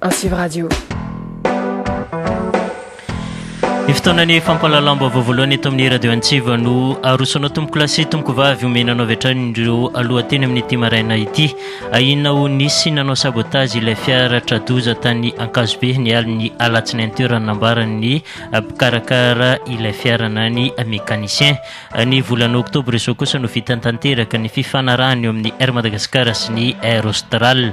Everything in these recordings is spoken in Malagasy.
Antsivo Radio. Ny fotoanan'ny fampahalalam-baovao voalohany eto amin'ny radio Antsiva no arosonao tompoko lahy sy tompoko vavy omena anao avy hatrany ireo alohateny amin'ity maraina ity. Ahiana ho nisy nanao sabotage ilay fiara tradoza tany Ankazobe ny alin'ny alatsinainy teo raha nambaran'ny mpikarakara ilay fiara na ny mécanicien. Ny volana oktobra izao kosa no vitan'ny tanteraka ny fifanarahana eo amin'ny Air Madagascar sy ny Air Austral.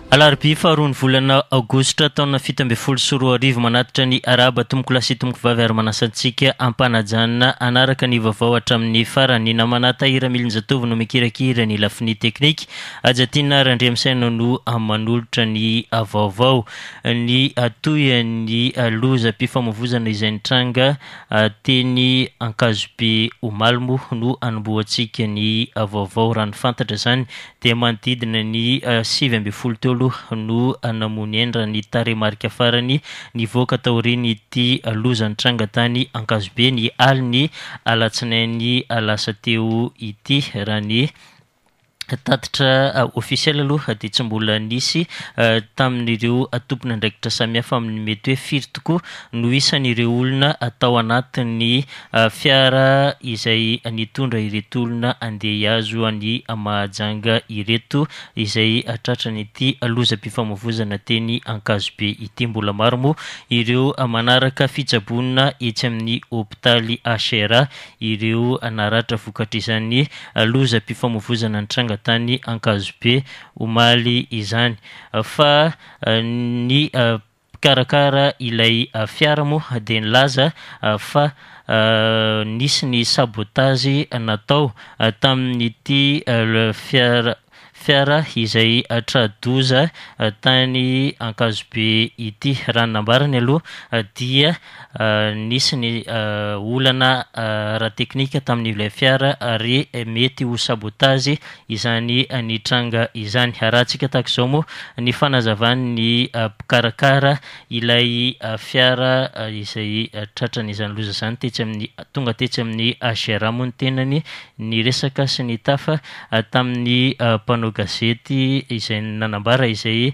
Alarobia faharoan'ny volana aogositra taona fito ambin'ny folo sy roa arivo manatitra ny Arahaba tompokolahy sy tompokivavy ary manasa antsika hampanajanona hanaraka ny vaovao hatramin'ny farany. Namana Tahira Milinjatovo no mikirakira ny lafiny teknika. Hajatiana Randriamisaina no manolotra ny vaovao. Ny tohin'ny lozam-pifamoivozana izay nitranga teny Ankazobe omaly moa no hanombohantsika ny vaovao raha ny fantatra izany dia manodidina ny sivy ambin'ny folo teo aloha no namono hendra ny tarehimarika farany nivoaka taorian'ity loza nitranga tany Ankazobe ny alin'ny alatsinainy lasa teo ity. Raha ny tatitra ofisialy aloha dia tsy mbola nisy tamin'ireo tompon'andraikitra samihafa amin'ny mety hoe firy tokoa no isan'ireo olona tao anatin'ny Fiara izay nitondra ireto olona handeha hihazo an'i Mahajanga ireto izay tratran'ity lozam-pifamoivoizana teny Ankazobe ity. Mbola maro moa ireo manaraka fitsaboana etsy amin'ny hopitaly HRA ireo naratra vokatr'izany lozam-pifamoivoizana nitranga tany Ankazobe omaly izany fa ny Mpikarakara ilay fiara moa dia nilaza fa nisy ny sabotazy natao tamin'ity fiara fiara izay tra-doza tany Ankazobe ity. Raha ny nambarany aloha dia Nisy ny olana ara-teknika tamin'ilay fiara ary mety ho sabotazy izany nitranga izany. Arahantsika tahaka izao moa ny fanazavan'ny mpikarakara ilay fiara izay tratran'izany loza izany tetsy amin'ny, tonga tetsy amin'ny HRA moa ny tenany, niresaka sy nitafa tamin'ny mpanao gazety izay nanambara izay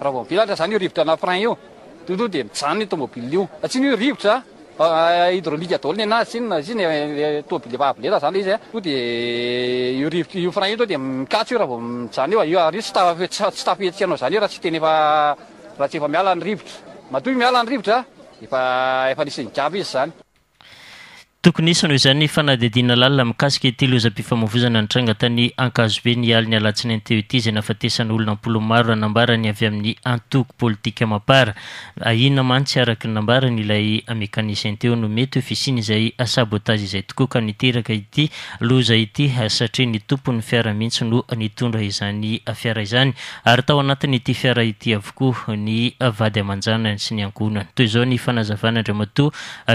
Raha vao mivelatra izany io rivotra na frein io, tonga tonga dia mijanona io tomobil io. Raha tsy ny hoe rivotra, hydraulique daholo ny anazy, tsy inona na tsy inona, ilay tomobil efa avo lenta izany ilay izy an, tonga dia io rivotra, io frein io tonga dia mikatso io raha vao mijanona io, ary io tsy tafa- tsy tsy tafihetsika hanao izany io raha tsy tena efa, raha tsy efa miala ny rivotra. Matoa io miala ny rivotra, efa efa nisy nigadra izy izany. Tokony hisy noho izany ny fanadihadiana lalina mikasika ity lozam-pifamoivoizana nitranga tany Ankazobe ny alin'ny alatsinainy teo ity izay nahafatesana olona am-polo maro raha nambara ny avy amin'ny antoko politika Mapar. Ahiana mantsy araka ny nambarany ilay mekanisien teo no mety ho fisian'izay sabotage izay tokoa ka niteraka ity loza ity satria ny tompon'ny fiara mihitsy no nitondra izany fiara izany ary tao anatin'ity fiara ity avokoa ny vady aman-janany sy ny ankohonany. Toy izao ny fanazavana Andriamatoa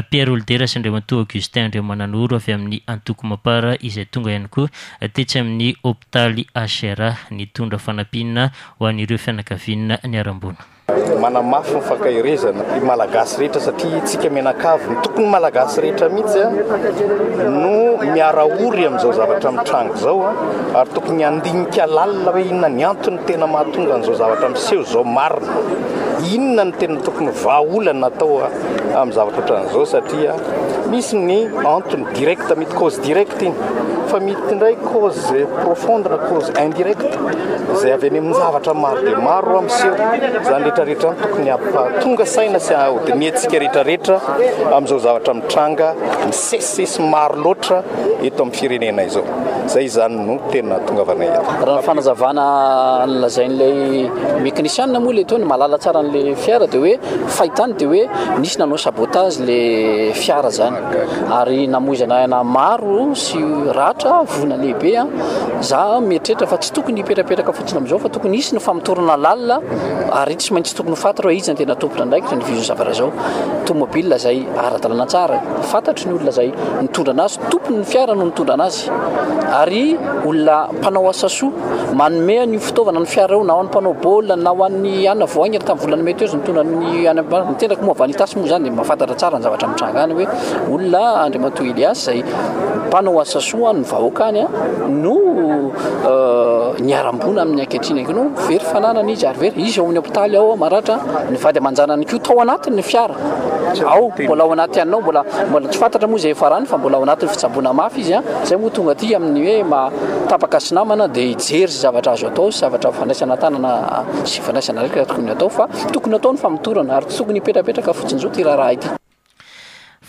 Pierre Olidera sy Andriamatoa Augustin Andriamananoro avy amin'ny Antoko Mapar izay tonga ihany koa tetsy amin'ny hopitaly HRA nitondra fanampiana ho an'ireo fianakaviana niharam-boina. Manamafy ny fankaherezana ny Malagasy rehetra satria isika mianakavy, ny tokony Malagasy rehetra mihitsy no miara ory amin'izao zavatra mitranga izao ary tokony handinika lalina hoe inona ny antony tena mahatonga an'izao zavatra miseho izao marina, inona no tena tokony vahaolana atao. amin'ny zavatra ohatran'izao satria misy ny antony direct mety cause direct iny fa mety indray cause profonde na cause indirect izay avy any amin'ny zavatra maro dia maro ho miseho izany rehetrarehetra ny tokony hampatonga saina sy hahodiniantsika rehetrarehetra amin'izao zavatra mitranga misesisesy maro loatra eto amin'ny firenena izao izay izany no tena tonga avana eto raha ny fanazavana ny lazain'ilay mécanician moa ilay teo ny malala tsara an'ilay fiara dia hoe Fahitany dia hoe nisy nanao sabotage le fiara zany ary namoizana aina maro sy ratra voina lehibe a za mieritreritra fa tsy tokony hipetrapetraka fotsiny amin'izao fa tokony hisy ny famotorana lalina ary tsy maintsy tokony ho faty reo izy tena tompona andraikitra ny vizo zavatra zao tomobile zay ara-dalana tsara fantatry ny olona zay nitondra anazy tompony ny fiara no nitondra anazy ary olona mpanao asa soa manome an'io fitaovana ny fiara io na ho an'ny mpanao baolina na ho an'ny anona vao haingana tamin'ny volana mety eo mitondra ny any amin'ny tenako moa vanitas moa izany dia mahafantatra tsara ny zavatra mitranga any hoe olona Andriamatoa Elias izay mpanao asa soa ny vahoaka any no niharam-boina amin'ny ankehitriny ange no very fananana izy ary very izy ao amin'ny hopitaly ao maratra ny vady aman-janany koa tao anatin'ny fiara Ao, mbola ao anaty anao, mbola mbola tsy fantatra moa izay hiafarany fa mbola ao anatin'ny fitsaboana mafy izy a, izay moa tonga aty amin'ny hoe maha tapaka sy namana dia hijery izay zavatra azo atao sy zavatra fandraisana tanana sy fandraisana andraikitra tokony atao fa tokony atao ny famotorana ary tsy tokony hipetrapetraka fotsin'izao ity raharaha ity.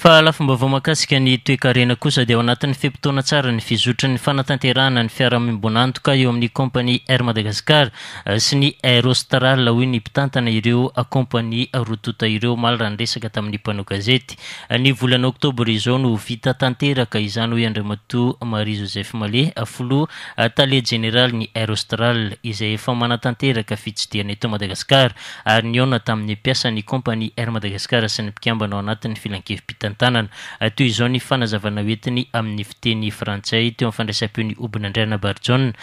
Fa lafim-baovao mahakasika ny toekarena kosa dia ao anatin'ny fe-potoana tsara ny fizotry ny fanatanterahana ny fiarahamoimbon'antoka eo amin'ny kaompania Air Madagascar sy ny Air Austral, hoy ny mpitantana ireo kaompania roa tonta ireo omaly raha niresaka tamin'ny mpanao gazety. Ny volana oktobra izao no ho vita tanteraka izany, hoy Andriamatoa Marie Joseph Mallet, filoha tale jeneralin'ny Air Austral, izay efa manatanteraka fitsidihana eto Madagasikara ary nihaona tamin'ny mpiasan'ny kaompania Air Madagascar sy ny mpikambana ao anatin'ny filankevi-pitantanana. Toy izao ny fanazavana hoentiny amin'ny fiteny frantsay teo amin'ny fandraisam-peo ny Obinandriana Barijaona,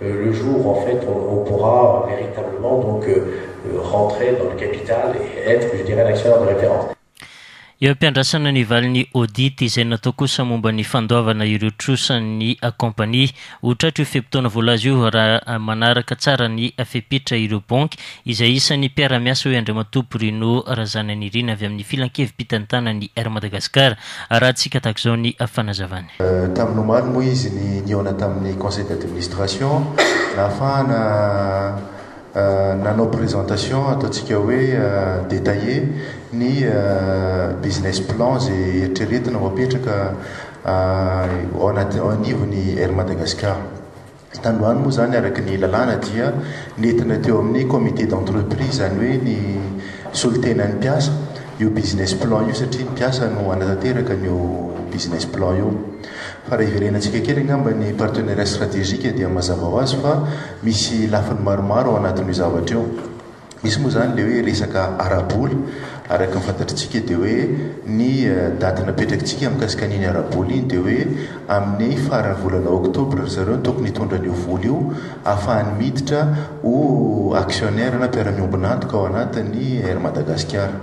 le jour en fait on pourra veritablement donc rentrer dans le capital et être je dirais un actionnaire de référence. Eo am-piandrasana ny valin'ny audit izay natao kosa momba ny fandoavana ireo trosan'ny kaompania. Ho tratra io fe-potoana voalaza io raha manaraka tsara ny fepetra ireo banky izay isan'ny mpiara-miasa, hoy Andriamatoa Bruno Razananirina avy amin'ny Filankevi-pitantanan'ny Air Madagascar. Arahantsika tahaka izao ny fanazavany. Tamin'ny omaly moa izy ny nihaona tamin'ny conseil d'administration nahafahana nanao présentation ataontsika hoe détaillée ny business plan izay eritreretina ho apetraka ao anivon'ny Air Madagascar. Tandroany moa izany araka ny lalàna dia nentina teo amin'ny comité d'entreprise, izany hoe ny solontenan'ny mpiasa, io business plan io satria ny mpiasa no hanatanteraka an'io business plan io. Fa raha hiverenantsika kely angamba ny partenariat stratégique dia mazava ho azy fa misy lafiny maromaro ao anatin'io zavatra io. Misy moa izany ilay hoe resaka ara-bola, araka ny fantatritsika dia hoe ny daty napetrakitsika mikasika an'iny ara-bola iny dia hoe amin'ny faran'ny volana oktobra ry zareo no tokony hitondra an'io vola io hahafahany miditra ho actionnaire na mpiara-miombon'antoka ao anatin'ny Air Madagasikara.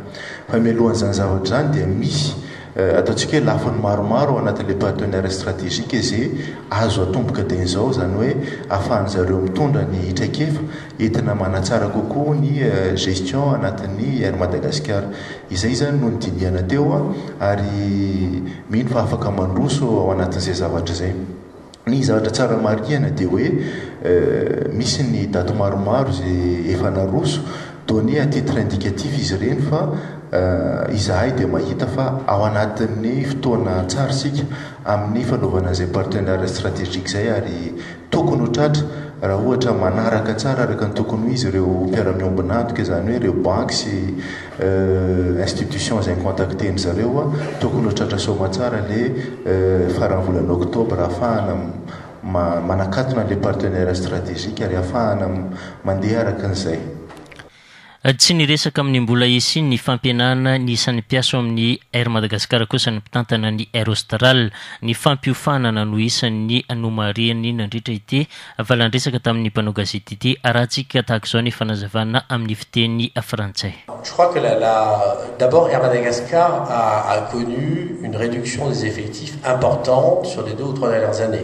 Fa mialohan'izany zavatra izany dia misy ataontsika hoe lafiny maromaro ao anatin'ilay partenariat stratégique izay azo atomboka dieny izao, izany hoe ahafahan'ny zareo mitondra ny traikefa Entina manatsara kokoa ny gestion anatin'ny Air Madagascar. Izay izany no nodinihana teo ary mino fa afaka mandroso ao anatin'izay zavatra izay. Ny zavatra tsara marihina dia hoe misy ny daty maromaro izay efa naroso, donné à titre indicatif izy ireny fa izahay dia mahita fa ao anatin'ny fotoana tsara isika amin'ny fanaovana izay partenariat stratégique izay ary Tokony ho tratra, raha ohatra manaraka tsara araka ny tokony ho izy ireo mpiara-miombon'antoka, izany hoe ireo banky sy institutions izay mi-contacter-ny zareo, tokony ho tratra soa aman-tsara le faran'ny volana octobre ahafahana manakatona an'ilay partenaire strategique ary ahafahana mandeha araka an'izay. Tsy niresaka amin'ny mbola hisian'ny fampihenana ny isan'ny mpiasa ao amin'ny Air Madagascar kosa ny mpitantana ny Air Austral. Ny fampiofanana no isan'ny nomarihany nandritra ity valandresaka tamin'ny mpanao gazety ity, arahantsika tahaka izao ny fanazavana amin'ny fiteny frantsay. Je crois que la la d'abord Air Madagascar a a connu une réduction des effectifs importante sur les deux ou trois dernières années.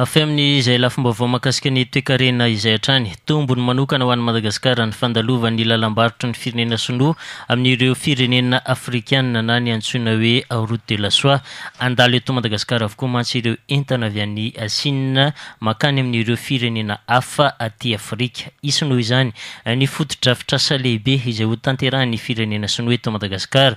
Avy amin' izay lafim-baovao mahakasika ny toekarena izay hatrany. Tombony manokana ho an'i Madagasikara ny fandalovan' ny lalam-barotry ny firenena sinoa amin' ireo firenena afrikana na ny antsoina hoe Route de la Soie. Handalo eto Madagasikara avokoa mantsy ireo entana avy any Sina mankany amin' ireo firenena hafa aty Afrika. Hisy noho izany ny fotodrafitrasa lehibe izay hotanterahin' ny firenena sinoa eto Madagasikara.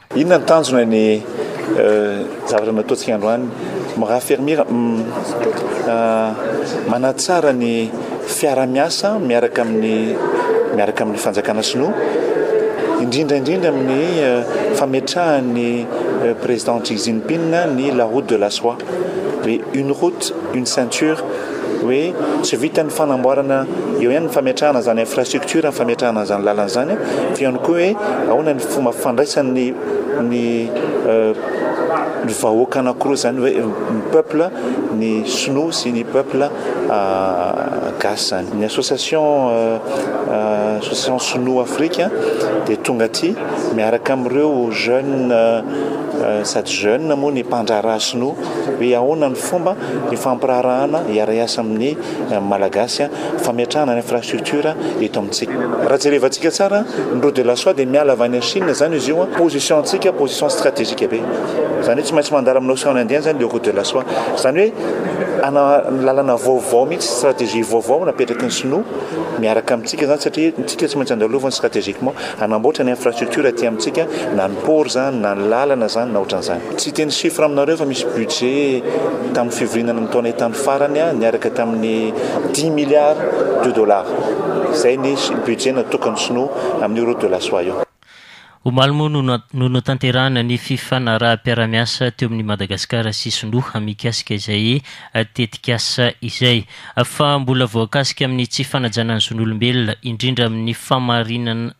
Inona ny tanjona ny zavatra nataontsika androany Rafermir manatsara ny fiarahamiasa miaraka amin'ny miaraka amin'ny fanjakana sinoa indrindra indrindra amin'ny fametrahan'ny président Xi Jinping ny la route de la soie, une route, une ceinture hoe tsy vitan'ny fanamboarana eo ihany ny fametrahana izany infrastructure ny fametrahana an'izany lalana izany fa ihany koa hoe ahoana ny fomba fandraisan'ny ny euh, ny vahoaka anankiroa izany hoe euh, ny peuple ny sinoa sy ny peuple euh, gasy izany ny association association sinoa afrika dia tonga aty miaraka amin'ireo jeune sady jeune moa ny mpandraharaha sinoa Hoe ahoana ny fomba ifampiraharahana hiara-hiasa amin'ny Malagasy fametrahana ny infrastructure eto amintsika. Raha jerevantsika tsara, ny route de la soie dia miala avy any Chine izany izy io, position antsika position strategique be, izany hoe tsy maintsy mandalo amin'ny ocean indien izany ilay route de la soie. Izany hoe ana lalana vaovao mihitsy, strategie vaovao no apetraky ny sinoa miaraka amintsika izany satria isika tsy maintsy andaloviny strategiquement hanamboatra ny infrastructure aty amintsika na ny port izany na ny lalana izany na ohatran'izany. Tsy hiteny chiffre aminareo fa misy budget tamin'ny fivoriana ny taona tany farany niaraka tamin'ny dix milliards de dollars. Izay ny budget natokan'ny sinoa amin'io route de la soie io. Omaly moa no notanterahina ny fifanaraham-piaraha-miasa teo amin'i Madagasikara sy Sinoa mikasika izay tetikasa izay. Fa mbola voakasika amin'ny tsy fanajana ny zon'olombelona, indrindra amin'ny famarinana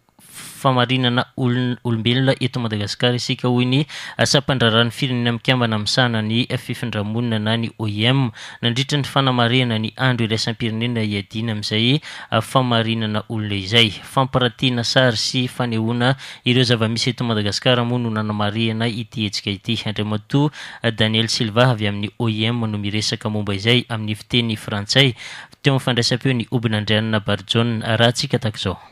famarinana olombelona eto Madagasikara isika hoy ny sampandraharahan'ny firenena mikambana misahana ny fifindra-monina na ny OIM nandritra ny fanamarihana ny andro iraisam-pirenena hiadiana amin'izay famarinana olona izay. Fampirantiana sary sy fanehoana ireo zava-misy eto Madagasikara moa no nanamarihana ity hetsika ity. Andriamatoa Daniel Silva avy amin'ny OIM no miresaka momba izay amin'ny fiteny frantsay teo amin'ny fandraisam-peo ny Obinandrianina Barijaona. Arahantsika tahaka izao.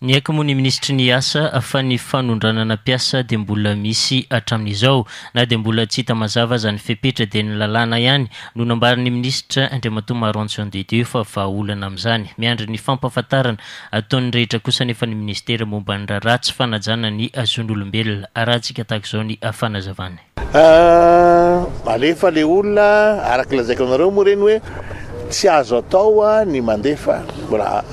Niaiky moa ny minisitry ny Asa fa ny fanondranana mpiasa dia mbola misy hatramin'izao. Na dia mbola tsy hita mazava aza ny fepetra dia ny lalàna ihany no nambaran'ny minisitra, Andriamatoa Maroantson Didieu fa vahaolana amin'izany. Miandry ny fampahafantarana ataon'ny rehetra kosa anefa ny minisitera momba ny raharaha tsy fanajana ny zon'olombelona. Arahantsika tahaka izao ny fanazavany. Ahh alefa le olona araka lazaiko anareo moa reny hoe tsy azo atao ny mandefa mbola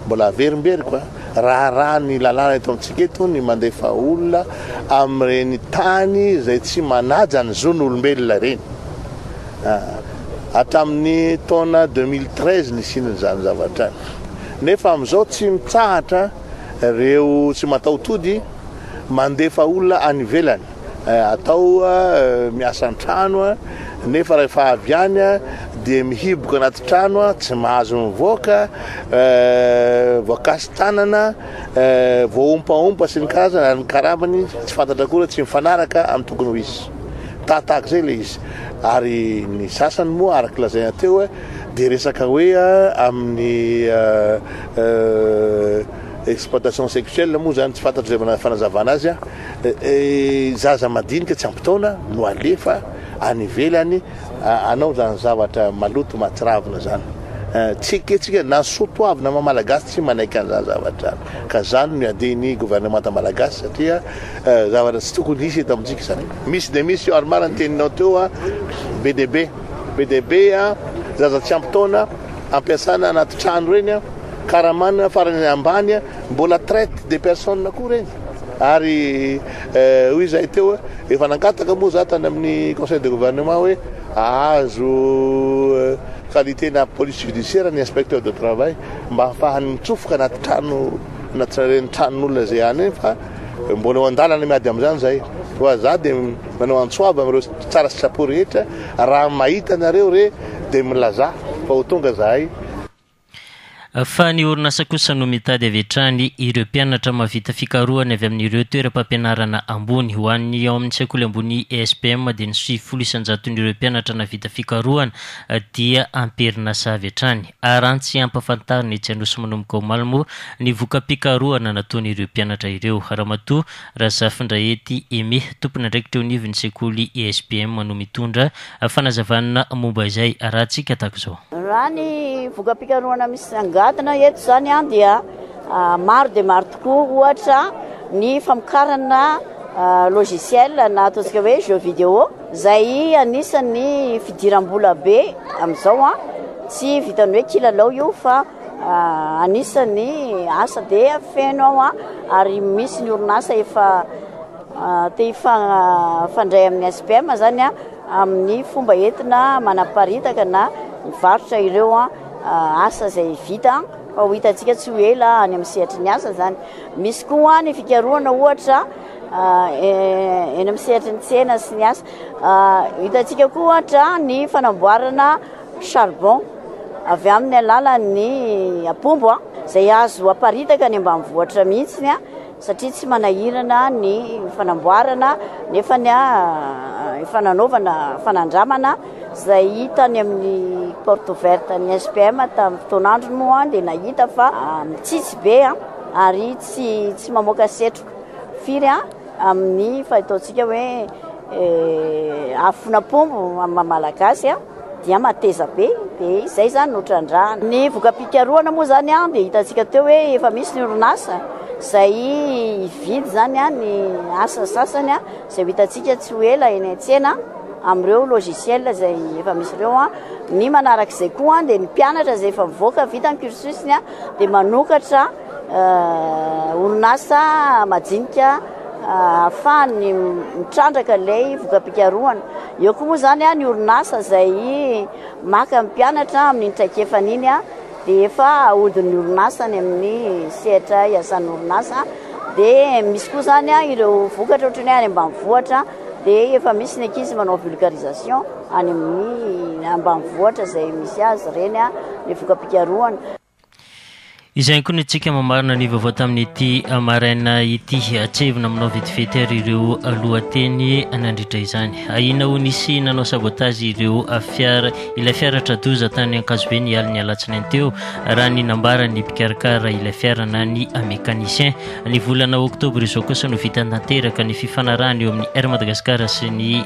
mbola averimberiko a raharaha ny lalàna eto amintsika eto ny mandefa olona amin'ireny tany izay tsy manaja ny zon'olombelona ireny hatramin'ny taona 2013 nisiana izany zavatra izany nefa amin'izao tsy mitsahatra ireo tsy mataho-tody mandefa olona any ivelany eh, atao eh, miasa an-trano eh, nefa rehefa avy any dia mihiboka anaty trano tsy mahazo mivoaka voakasy tanana voaompaompa sy ny karazana ary ny karabany tsy fantatra koa tsy mifanaraka amin'ny tokony ho izy tahatahaka izay le izy ary ny sasany moa araka lazaina teo dia resaka hoe amin'ny Exploitation sexuelle moa zany tsy fantatro izay fanazavana azy an! zaza madinika tsy ampy taona no alefa any ivelany hanao zany zavatra maloto mahatsiravina zany an! tsy ekentsika na soatoavina maha malagasy tsy manaiky an'izany zavatra izany ka izany no iadian'ny gouvernemanta malagasy satria zavatra tsy tokony hisy eto amintsika izany. Misy dia misy io ary marina ny teninao teo a be dia be be dia be a zaza tsy ampy taona ampiasana anaty trano ireny a. Karamana farany ambany mbola traite de personne koa reny ary euh, hoy izahay teo efa nangataka moa za tany amin'ny conseil de gouvernement hoe ahazo euh, qualité na police judiciaire ny inspecteur de travail mba hafahany mitsofoka anaty trano na tsirairen'ny tranon'olona izay any fa mbola eo an-dalana miady amin'izany izay fa za dia manao antsoava amin'ireo tsara sitrapo rehetra raha mahita anareo re dia milaza fa ho tonga zahay Fa ny orinasa kosa no mitady avy hatrany ireo mpianatra mahavita fikarohana avy amin'ireo toeram-pampianarana ambony. Ho an'ny ao amin'ny sekoly ambony ESPM dia ny sivifolo isan-jaton'ireo mpianatra nahavita fikarohana dia amperinasa avy hatrany. Arantsy ampafantarina etsy Anosy manomboka omaly moa ny voka-pikarohana nataon'ireo mpianatra ireo. Ramatoa Razafindrahety Aimé, tompon'andraikitra eo anivon'ny sekoly ESBM no mitondra fanazavana momba izay arahantsika tahaka izao. Raha ny voka-pikarohana misongadina eto izany dia maro dia maro tokoa, ohatra ny famokarana logiciel na ataontsika hoe jeux vidéo izay anisan'ny fidiram-bola be amin'izao, tsy vitan'ny hoe kilalao io fa Anisan'ny asa dia feno aho ary misy ny orinasa efa te hifandray amin'ny SPM izany amin'ny fomba entina manaparitaka na mivarotra ireo asa izay vita fa ho hitantsika tsy ho ela any amin'ny sehatry ny asa izany. Misy koa ny fikarohana ohatra eny amin'ny sehatry ny tsena sy ny asa. Hitantsika koa ohatra ny fanamboarana charbon, avy amin'ny alalan'ny apombo izay azo aparitaka any ambanivohitra mihitsy satria tsy manahirana ny fanamboarana nefa efa nanaovana fanandramana izay hita any amin'ny porte ouverte ny SPM tamin'ny fotoan'androny moa dia nahita fa mitsitsy be ary tsy mamoaka setroka firy amin'ny fahitaontsika hoe afon'apombo amin'ny maha malagasy. dia mateza be dia izay izany no trandrahana. Ny voka-pikarohana moa izany dia hitantsika teo hoe efa misy ny orinasa izay hividy izany ny asa sasany izay ho hitantsika tsy ho ela eny an-tsena amin'ireo logiciel izay efa misy ireo. Ny manarak'izay koa dia ny mpianatra izay efa mivoaka vita ny cursus-ny dia manokatra orinasa majinika. ahafahany mitrandraka ilay voka-pikarohana. Eo koa moa izany ny orinasa izay maka ny mpianatra amin'iny traikefany iny dia efa ahodin'ny orinasa any amin'ny sehatra iasan'ny orinasa. Dia misy koa izany ireo vokatra ohatran'ny hoe any ambanivohitra dia efa misy ny ankizy manao vulgarisation any amin'ny ambanivohitra izay misy azy ireny ny voka-pikarohana. Izay ihany koa no tsika mamarana ny vaovao tamin'ity maraina ity. Atsehevina aminao vetivety ary ireo lohateny nandritra izany. Ahiana ho nisy nanao sabotazy ireo fiara ilay fiara tra-doza tany Ankazobe ny alin'ny alatsinainy teo raha ny nambaran'ny mpikarakara ilay fiara na ny mécanicien. Ny volana oktobra izao kosa no vita tanteraka ny fifanarahana eo amin'ny Air Madagascar sy ny